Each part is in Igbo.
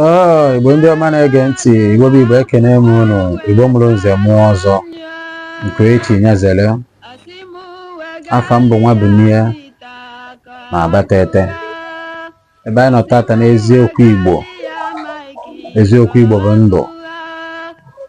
Oh, Igbo ndị ọma na-ege ntị Igbo bụ Igbo ekene m unu Igbo mụrụ nze mụọ ọzọ nke echi nyezere afa m bụ Nwabunie na Abatete ebe anyị nọ tata n'eziokwu Igbo eziokwu Igbo bụ ndụ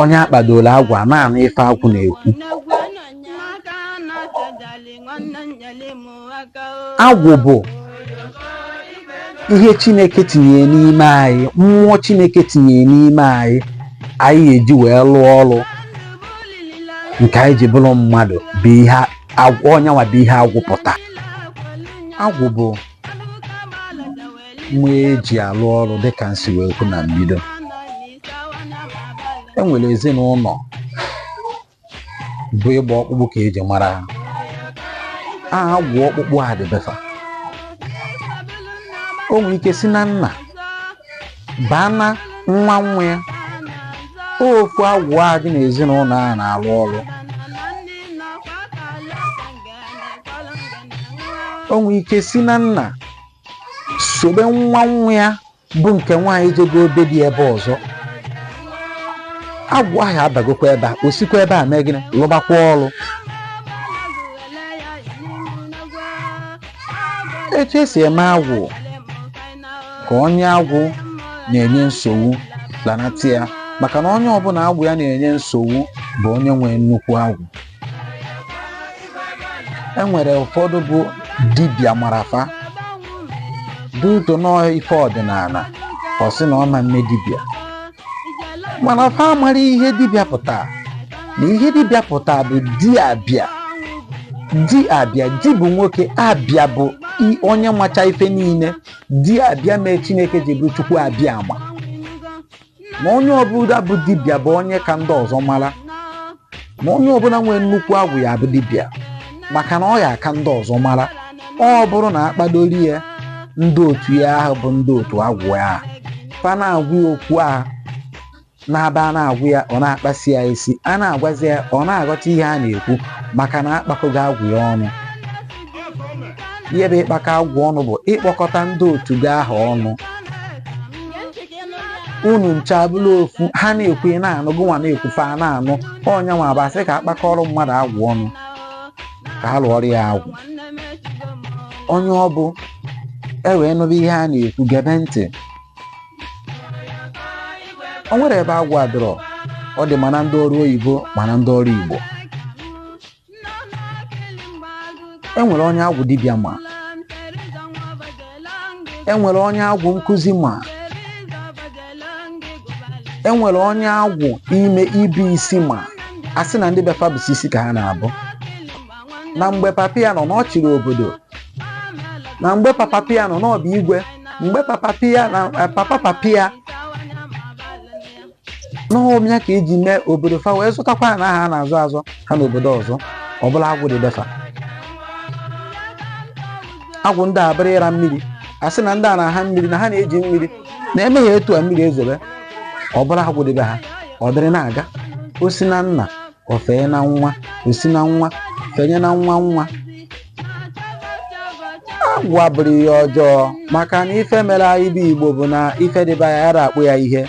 onye akpadoro agwụ na-anụ ife agwụ na-ekwu agwụ bụ ihe chineke tinyere n'ime anyị mmụọ chineke tinyere n'ime anyị anyị eji wee lụọ ọrụ nke anyị ji bụrụ mmadụ bụ ihe agwụ ọ nya nwa bụ ihe agwụ pụta agwụ bụ mmụọ eji alụ ọrụ dịka m si wee kwu na mbido e nwere ezinụlọ bụ ịgba ọkpụkpụ ka eji mara ha agwụ ọkpụkpụ a dị be fa o nwere ike si na nna baa na nwa nwa ya ofu agwụ a dị n'ezinụlọ a na-alụ ọrụ o nwere ike si na nna sobe nwa nwa ya bụ nke nwaanyị jego be di ebe ọzọ agwụ ahụ abagokwa ebe a o sikwa ebe a mee gịnị lụbakwa ọrụ etu esi eme agwụ ka onye agwụ na-enye nsogbu lanata ya maka na onye ọbụla agwụ ya na-enye nsogbu bụ onye nwee nnukwu agwụ e nwere ụfọdụ bụ dibịa mana fa dị ụtọ n'ọ ife ọdịnala ọ sị na ọ ma mme dibịa mana fa amarọ ihe dibịa pụta na ihe dibịa pụta bụ di abịa di abịa di bụ nwoke abịa bụ i- onye macha ife niile di abịa mee chineke ji bụrụ chukwu abịa ama na onye ọbụla bụ dibịa bụ onye ka ndị ọzọ mara na onye ọbụla nwere nnukwu agwụ ya bụ dibịa maka na ọ ya aka ndị ọzọ mara ọ bụrụ na akpadoro ya ndị otu ya ahụ bụ ndị otu agwụ ya fa na-agwa ya okwu ahụ na-abụ a na-agwa ya ọ na-akpasị ya isi a na-agwazi ya ọ na-aghọta ihe a na-ekwu maka na akpakọgo agwụ ya ọnụ ihe bụ ịkpakọ agwụ ọnụ bụ ịkpọkọta ndị otu gị ahụ ọnụ unu ncha bụrụ ofu ha na-ekwu ị na-anụ gị nwa na-ekwu fa na-anụ ọ nya nwa bụ asị ka akpakọrọ mmadụ agwụ ọnụ ka a lụọrọ ya agwụ onye ọ bụ e wee nụba ihe a na-ekwu gebe ntị o nwerọ ebe agwụ adịrọ ọ dị ma na ndị ọrụ oyibo ma na ndị ọrụ igbo e nwere onye agwụ dibịa ma e nwere onye agwụ nkụzi ma e nwere onye agwụ ime ịbụ isi ma a sị na ndị be fa bụsi isi ka ha na-abụ na mgbe papa ya nọ n'ọ chịrị obodo na mgbe papa papa ya nọ n'ọ bụ igwe mgbe papa ya na eh, papa papa ya n'ọ bụ ya ka eji mee obodo fa wee zụtakwa ya na ha na-azụ azụ ha n'obodo ọzọ ọ bụrụ agwụ dị be fa agwụ ndị a abụrụ ịra mmiri a sị na ndị a na-aha mmiri na ha na-eji mmiri na-eme ihe etu a mmiri ezobe ọ bụrụ agwụ dị be ha ọ dịrị na-aga o si na nna o fee na nwa o si na nwa fenye na nwa nwa agwụ abụrọ ihe ọjọọ maka na ife mere anyị bụ igbo bụ na ife dị be anyị anyị ara akpọ ya ihe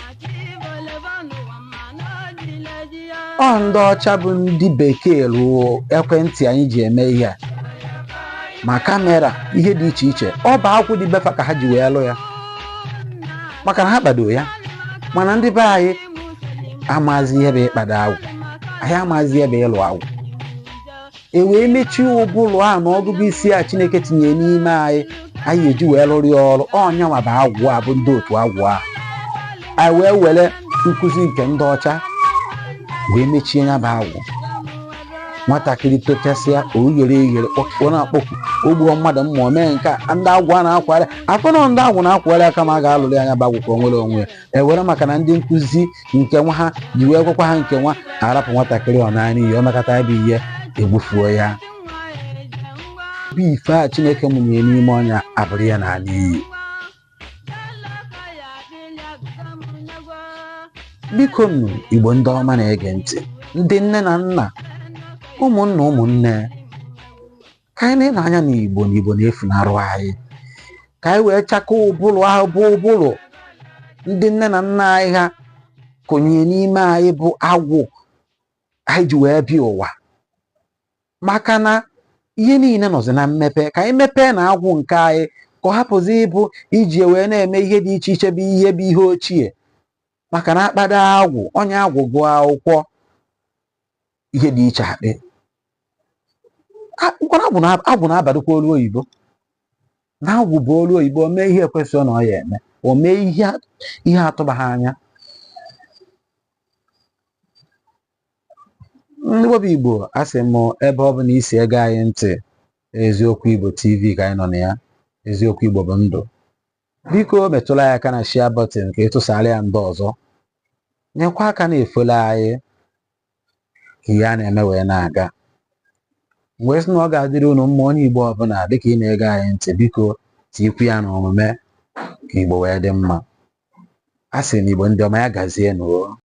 ọ ndị ọcha bụ ndị bekee rụọ ekwentị anyị ji eme ihe a ma kamera ihe dị iche iche ọ bụ agwụ dị be fa ka ha ji wee lụ ya maka na ha kpado ya mana ndị be anyị amazi ihe bụ ịkpado agwụ anyị amazi ihe bụ ịlụ agwụ e wee mechie ụbụrụ a na ọgụgụ isi a chineke tinye n'ime anyị anyị eji wee lụrụ ya ọrụ ọ nya nwa bụ agwụ a bụ ndị otu agwụ a anyị wee were nkụzi nke ndị ọcha wee mechie ya bụ agwụ nwatakịrị tochasịa oyere eyere ọ na-akpọku o gbuo mmadụ mma o mee nke a ndị agwụ a na-akwara afọ na ndị agwụ na-akwara aka ma a ga-alụrụ ya nya bụ agwụ ka o nwere onwe ya ewere maka na ndị nkụzi nke nwa ha ji wee gwakwa ha nke nwa arapụ nwatakịrị ọ naa n'iyi e mekata ya bụ ihe egbufuo ya bụ ife a chineke mụnye n'ime onye a abụrụ ya na-ala n'iyi biko nụ igbo ndị ọma na-ege ntị ndị nne na nna ụmụnna ụmụnne ka anyị na-ele anya n'igbo na igbo na-efunarụ anyị ka anyị wee chakọọ ụbụrụ ahụ bụ ụbụrụ ndị nne na nna anyị ha kụnye n'ime anyị bụ agwụ anyị ji wee bịa ụwa maka na ihe niile nọzi na mmepe ka anyị mepee na agwụ nke anyị ka ọ hapụzi ịbụ iji wee na-eme ihe dị iche iche bụ ihe bụ ihe ochie maka na a kpado agwụ onye agwụ gụọ akwụkwọ ihe dị iche akpị mkpọrọ agwụ na- agwụ na-abadokwa olu oyibo na agwụ bụ olu oyibo o mee ihe ekwesịrọ na ọ ya eme o mee ihe a- ihe atụbaghị anya ndị webụ igbo asị m ebe ọbụna i si ege anyị ntị eziokwu igbo tv ka anyị nọ na ya eziokwu igbo bụ ndụ biko metụla ya aka na share button ka ị tụsara ya ndị ọzọ nyekwa aka na-efollow anyị ka ihe a na-eme wee na-aga m wee sị na ọ ga-adịrị unu mma onye igbo ọbụla dịka ị na-ege anyị ntị biko tikwu ya n'omume ka igbo wee dị mma a sị na igbo ndị ọma ya gazie nụ o